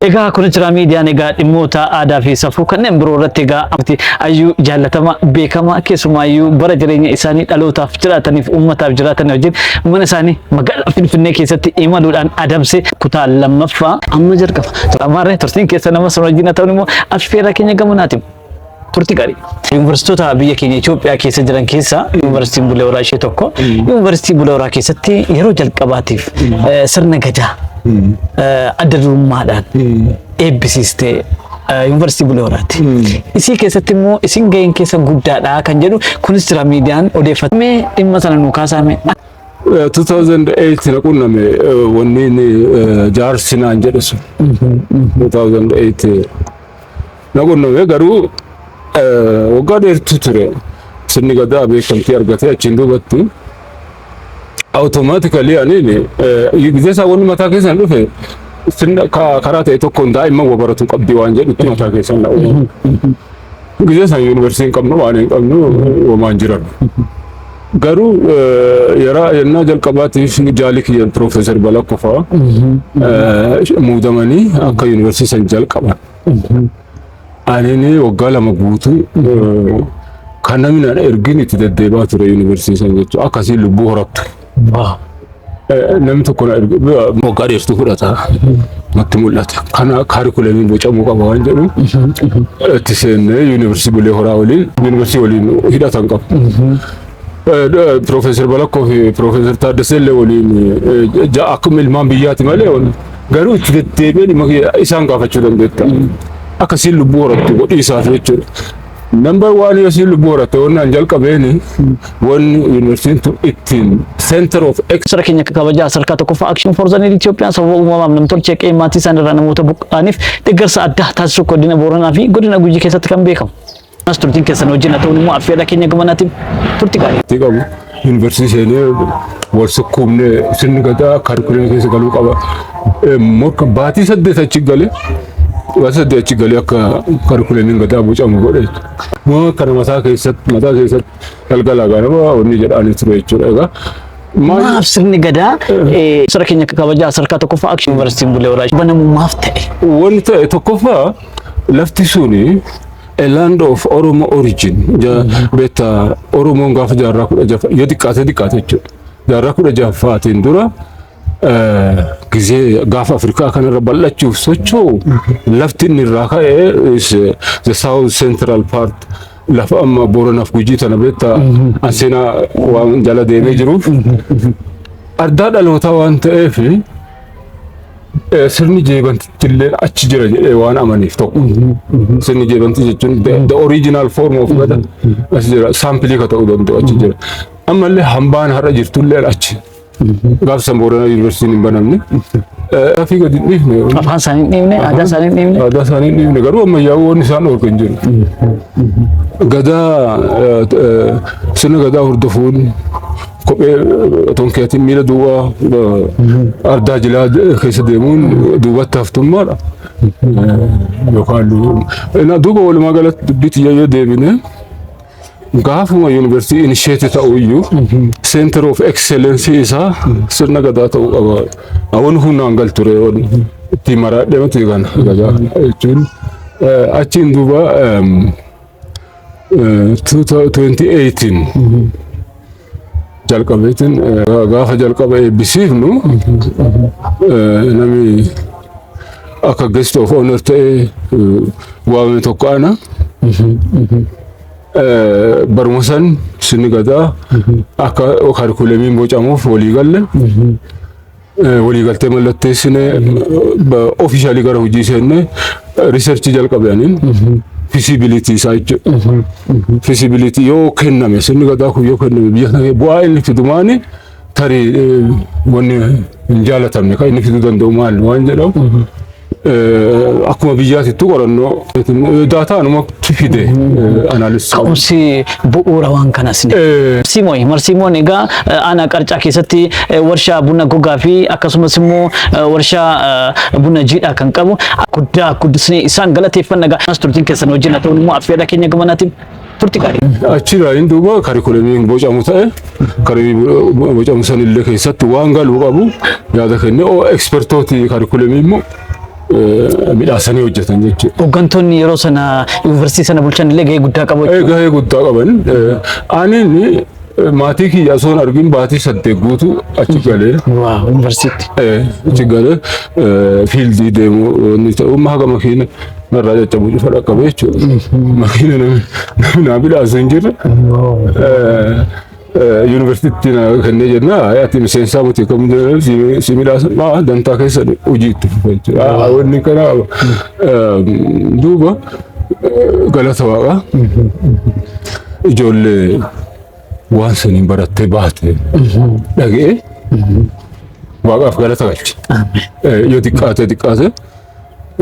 Egaa kun jira miidiyaan egaa dhimmoota aadaa fi safuu kanneen biroo irratti egaa amti ayyuu jaallatama beekama keessumaayyuu bara jireenya isaanii dhalootaaf jiraataniif uummataaf jiraatan wajjin mana isaanii magaalaa Finfinnee keessatti imaluudhaan adamse kutaa lammaffaa amma jalqaba. Ammaarree turtiin keessa nama sun wajjin haa ta'u immoo affeerraa keenya gamanaatiin. Turti gaarii. Yuunivarsiitota biyya keenya Itoophiyaa keessa jiran keessaa yuunivarsiitiin Bulee Horaa ishee tokko. Yuunivarsiitii Bulee Horaa keessatti yeroo jalqabaatiif eh, sirna gadaa eh, adda durummaadhaan eebbisiiste eh, yuunivarsiitii Bulee Horaati. Isii keessatti immoo isin gaheen keessa guddaadha kan jedhu kunis jira miidiyaan odeeffatame dhimma sana nu kaasaame. 2008 na qunname eh, wanni inni eh, jaarsi naan jedhe sun 2008 Na qunname garuu waggaa dheertuu ture. Sirni gadaa beekamtii argatee achiin duubatti awutomaatikali aniin gizee isaa wanni mataa keessan dhufe sirna karaa ta'e tokkoon daa'imman wa baratu qabdi waan jedhutti mataa keessan na uumu. Gizee isaan yuunivarsiitii hin qabnu waan hin qabnu wamaan jiran. Garuu yeroo yennaa jalqabaatiif jaali kiyyan Piroofeesar Balakkofaa muudamanii akka yuunivarsiitii san jalqaban. Ani waggaa lama guutuu kan namni na ergin itti deddeebaa ture yuunivarsiitii jechuudha. Akkasiin lubbuu horattu. Namni tokko na erge waggaa dheertuu fudhata. Natti mul'ata. Kana kaarikulamii bocamuu qaba waan jedhu itti seennee yuunivarsiitii Bulee Horaa waliin yuunivarsiitii waliin hidhatan qaba. Piroofeesar Balakkoo fi Piroofeesar Taaddasee illee waliin akkuma ilmaan biyyaati malee Garuu itti deddeebi'anii ma- isaan gaafachuu dandeetta. Akka siin lubbuu horattu godhiisaaf jechuudha. Nambar waan yoo siin lubbuu horatte wannaan jalqabeen wanni yuunivarsiitiin tun ittiin center of ex Sara keenya kabajaa sadarkaa tokkoffaa Action for the Need Itoophiyaan sababa uumamaaf namtolchee qe'ee maatii isaaniirraa namoota buqqa'aniif deeggarsa addaa taasisuu godina Booranaa fi godina Gujii keessatti kan beekamu. As turtiin keessan wajjin haa ta'uun immoo affeerraa keenya gamanaatiin turti gaarii. itti qabu yuunivarsiitii seenee wal sukkuumnee sirni gadaa kaarikulee keessa galuu qaba. Eh, Morka baatii saddeet achi gale baatii saddeet achi gale akka kaarikuleen gadaa bocamu godhe. Moo kana mataa keessatti mataa keessatti galgala ganama onni jedhaanii ture jechuudha egaa. Maal Maaf sirni gadaa eh, sara keenya kabajaa sadarkaa tokkoffaa akshin yuunivarsiitiin bulee horaa banamu maaf ta'e. wanni ta'e tokkoffaa lafti suni A land of Oromo origin. Ja- Beekta Oromoon gaafa jaarraa kudha jafa yoo xiqqaate xiqqaate jechuudha. Jaarraa kudha jafaatiin dura eh, gizee gaafa Afrikaa kanarra bal'achuuf socho'u lafti inni irraa ka'e is, eh, the south central part lafa amma Booranaaf Gujii tana beekta an seenaa waan jala deemee jiruuf ardaa dhalootaa waan ta'eef Eh, Sirni jeebantitti illee achi jira jedhee waan amaniif tokko. Sirni jeebantii jechuun the, the original form of gada achi jira. Saampilii ka ta'uu danda'u achi jira. Ammallee hambaan har'a jirtu illee achi. Gaaf san Booranaa Yuunivarsiitiin hin banamne. Eh, Gaaffii gadi hin dhiifne. Afaan isaanii hin dhiibne, aadaa isaanii hin dhiibne. Aadaa isaanii hin dhiifne garuu ammayyaa'uu waan isaan dhorku hin jiru. Gadaa eh, eh, sirna gadaa hordofuun Kophee otoo hin keetiin miila duwwaa eh, ardaa jilaa de- keessa deemuun duubatti haftummaadha. Eh, Yookaan lu- na- duuba walumaa galatti dubbii tiyya yoo deebine gaafuma yuunivarsiitii inisheetii ta'u iyyuu center of excellence isaa sirna gadaa ta'uu qaba. Awwan humnaan gal ture wan itti maraadhee mati kana gadaa jechuun eh, achiin duuba em, 2018 jalqabeetiin gaafa jalqaba eebbisiifnu namni akka guest of honor ta'ee waame tokko ana baruma san sinni gadaa akka karikuleemiin bocamuuf walii galle waliigaltee mallatteessine ofiishaalii gara hojii seenne riisarchii jalqabaniin fisibilitii isaa jechuudha. Fisibilitii yoo kenname sirni gadaa kun yoo kenname biyya sana bu'aa inni fidumaani tarii wanni hin jaalatamne kan inni fiduu danda'u maal waan jedhamu Akkuma biyyaatittu qorannoo daataa anumatti fide anaalisa. Ka'umsi bu'uura waan kanas ni. Marsiimoon marsiimoon egaa aanaa qarcaa keessatti warshaa buna gogaa fi akkasumas immoo warshaa buna jiidhaa kan qabu guddaa guddisnee isaan galateeffanna egaa turtiin keessan wajjin haa ta'u immoo affeerra keenya gamanaatiin. turti gaarii. Achi raayini duuba karikulamii bocamu ta'e karikulamii bocamu san illee keessatti waan galuu qabu yaada kennee oo ekspertooti karikulamii immoo midhaasanii hojjetan jechuudha. Hooggantoonni yeroo sana yuunivarsiitii sana bulchan illee gahee guddaa qabu. Gahee guddaa qaban. Ani Maatii kiyya osoo hin argin baatii saddeet guutuu achi galee. Waaw, yuunivarsiitti. Eh, achi galee eh, fiildii deemuu wanni ta'u amma haga makiina narraa caccabuu dhufa dhaqqabe jechuudha. Makiina namni namni naa midhaasu hin jirre. Eh, eh, Yuunivarsiitti na kennee jenna "Ay, ati miseensaa miti kam jedhan si si midhaasan maa dantaa keessa hojii itti fufa jechuudha. Ah, Wanni kana eh, duuba Galata waaqa. Ijoollee waan saniin barattee baate dhaga'ee waaqaaf galata galche. Yoo xiqqaatee xiqqaatee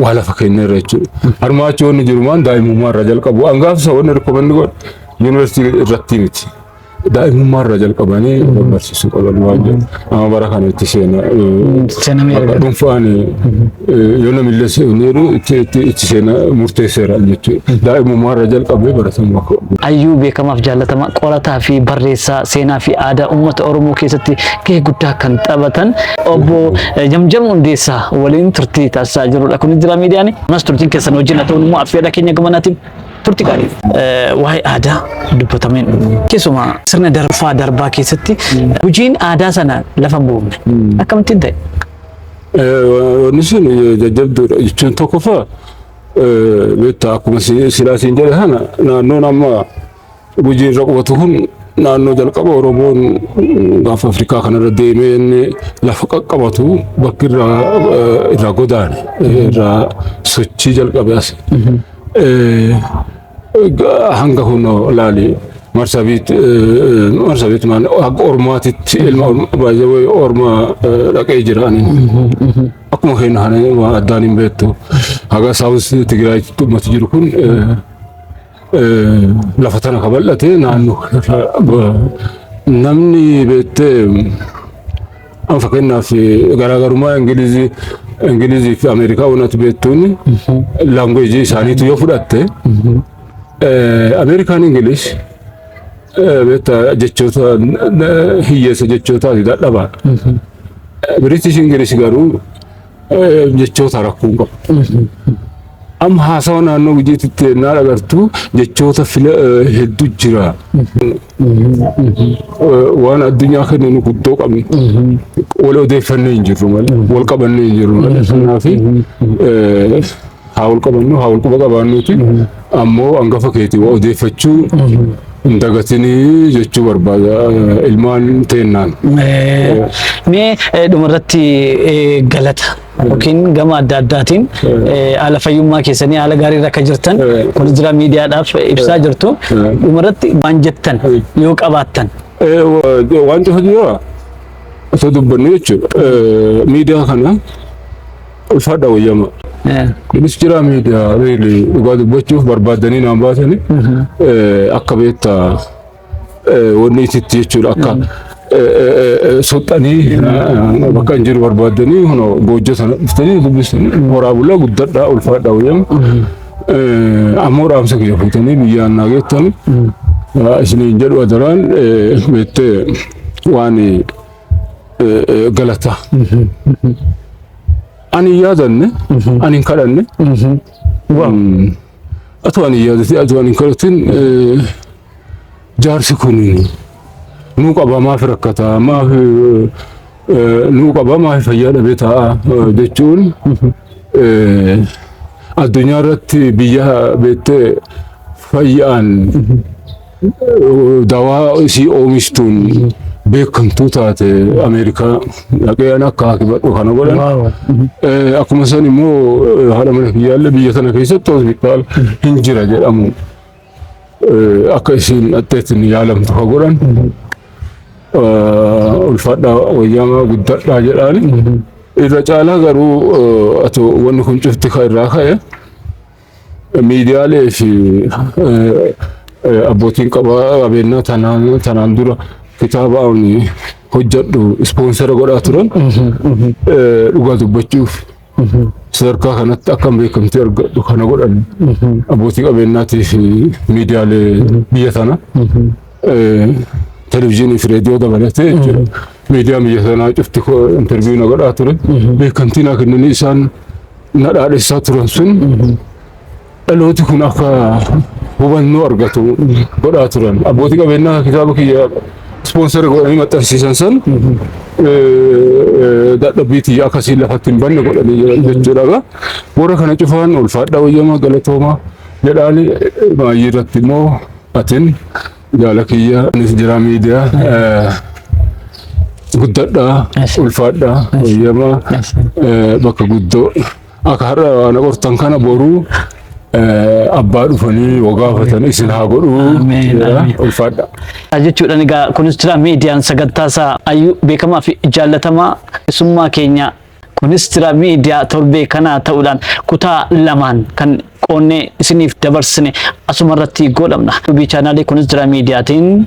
waa lafa keenya irra jechuudha. Harmaa achi wanni jiru maan daa'imummaa irraa jalqabu. Angaafsa wanni rikkomanni godhu yuunivarsiitii irratti miti. daa'imummaa irraa jalqabanii barsiisuu qaban waan jedhu amma bara kana itti seena Seenamee bakka dhuunfaan yoo namillee seeneeru itti itti itti seena murteesseera jechuudha daa'imummaa irraa jalqabee baratamuu akka qabu. Ayyuu beekamaaf jaallatama qorataa fi barreessaa seenaa fi aadaa uummata Oromoo keessatti gahee guddaa kan taphatan obbo eh, Jamjam Hundeessaa waliin turtii taasisaa jirudha. Kunis jira miidiyaan. Ammas turtiin keessan wajjin haa ta'u immoo affeerraa keenya gamanaatiin turti gaarii. Waa'ee aadaa dubbatamee hin dhumu. Keessumaa sirna darbaa darbaa keessatti hojiin aadaa sana lafa hin buufne. Akkamittiin ta'e? Wanni sun jajjabduudha jechuun tokkoffaa beektaa akkuma silaa siin jedhe sana naannoon amma Gujii irra qubatu kun naannoo jalqaba Oromoon gaafa Afrikaa kanarra deemee inni lafa qaqqabatu bakki irraa eh, irraa godaane eh, irraa sochii jalqabe as. Eh, ga- Hanga kunoo laali marsabiit eh, eh, marsabiit maal akka ormaatitti ilma orma- baay'ee wayi orma eh, dhaqee jira ani. Akkuma keenya kana waan addaan hin beektu. Haga saawus Tigraay ummati jiru kun eh, lafa tana ka bal'ate naannoo namni beektee an fakkeenyaaf garaagarummaa Ingilizii Ingilizii fi Ameerikaa wanati beektuun laanguweejii isaaniitu yoo fudhatte Ameerikaan Ingilish beektaa jechoota hiyyeessa jechootaati dadhabaadha. Biritish Ingilish garuu Eh, jechoota rakkoo hin qabu. Amma haasawa naannoo gujiitti itti ennaa dhagartu jechoota fila eh, hedduu jira. Eh, Waan addunyaa kenninu guddoo qabna. Wal odeeffannee hin jirru malee, wal qabannee hin jirru malee. Kanaaf eh, haa wal qabannu haa wal quba qabaannuuti ammoo hangafa keetii waa odeeffachuu hin dagatinii jechuu barbaada ilmaan teennaan. Eh, Mee eh, dhumarratti eh, galata yookiin gama adda addaatiin eh, haala fayyummaa keessanii haala gaarii irra akka jirtan Eh. kun jira miidiyaadhaaf eh, ibsaa jirtu Eh. dhumarratti waan jettan Eh. yoo qabaattan Eh, wa- Wanti hojii jira osoo dubbannu jechuudha. Eh, Miidiyaa kana Ulfaadha wayyama. Kunis jira miidiyaa riili dhugaa dubbachuuf barbaadanii naan baasanii akka beekta wanni isitti jechuudha akka soxxanii bakka hin jiru barbaadanii kunoo goojja sana dhuftanii dubbisanii horaa bulaa guddadhaa ulfaadha wayyama. Ammoo dhaamsa kiyya fuutanii biyyaan naa geettanii isiniin jedhu adaraan beettee waan galataa. Ani hin yaadanne, ani hin kadhanne. Atoo ani hin yaadatin, atoo ani hin kadhatin jaarsi kun nuu qaba maaf rakkataa maaf nuu qaba maaf fayyaa dhabee ta'a jechuun addunyaa irratti biyya beettee fayyaan dawaa isii oomishtuun beekamtuu taate Ameerikaa dhaqee an akka hakibadhu kana godhan. Eh, Akkuma san immoo eh, haadha mana kiyyaallee biyya tana keessatti hospitaal hin jira jedhamu eh, akka isiin dhaqxeetti ni yaalamtu ka godhan. Eh, Ulfaadhaa wayyaamaa guddadhaa jedhaani. Irra caalaa garuu eh, atoo wanni kun cufti ka irraa ka'e. miidiyaalee fi abbootiin qabeenyaa tanaan dura kitaaba ani hojjedhu ispoonsera godhaa turan dhugaa dubbachuuf sadarkaa kanatti akkam beekamtii argadhu kana godhan abbootii qabeenyaatii fi miidiyaalee biyya tana televizyiinii fi reediyoo dabalatee miidiyaan biyya tanaa cufti interviiyuu na godhaa ture beekamtii naa kennanii isaan na dhaadhessaa turan sun dhalooti kun akka hubannoo argatu godhaa turan. Abbootii qabeenyaa kitaaba kiyya ispoonsara godhanii maxxansiisan san dadhabbii tiyya akkasiin lafatti hin banne godhanii jiran jechuudha. Egaa Warra kana cufaan ulfaadhaa wayyamaa galatoomaa jedhaani baay'ee irratti immoo atin Jaala kiyya anis jira miidiyaa guddadhaa ulfaadhaa eeyyama bakka guddoo akka har'a ana qortan kana boruu abbaa dhufanii wagaafatanii isin haa godhuu Ameen, jedha ameen. ulfaadhaa. jechuudhaan egaa kunis jira miidiyaan sagantaa isaa ayyuu beekamaa fi jaallatamaa keessummaa keenya Kunis Tira Miidiyaa torbee kanaa ta'uudhaan kutaa lamaan kan qoonnee isiniif dabarsine asuma irratti goolabna. Yuubii chaanaalii kunis Tira Miidiyaatiin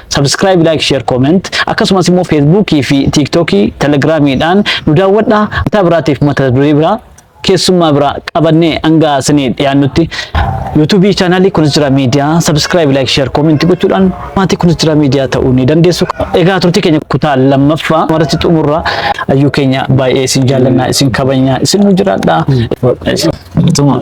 subscribe, like, share, comment akkasumas immoo feesbuukii fi tiiktookii telegiraamiidhaan nu daawwadhaa. Kutaa biraatiif mata duree biraa keessummaa biraa qabannee hanga isinii dhiyaannutti yuutuubii chaanaalii kunis Tira Miidiyaa subscribe, like, share, comment gochuudhaan Maatii Kunistira Miidiyaa ta'uu ni dandeessu. Egaa turtii keenya kutaa lammaffaa irratti xumurra ayyuu keenya baay'ee isin jaallannaa isin kabajnaa isin nu jiraadhaa. Tuma.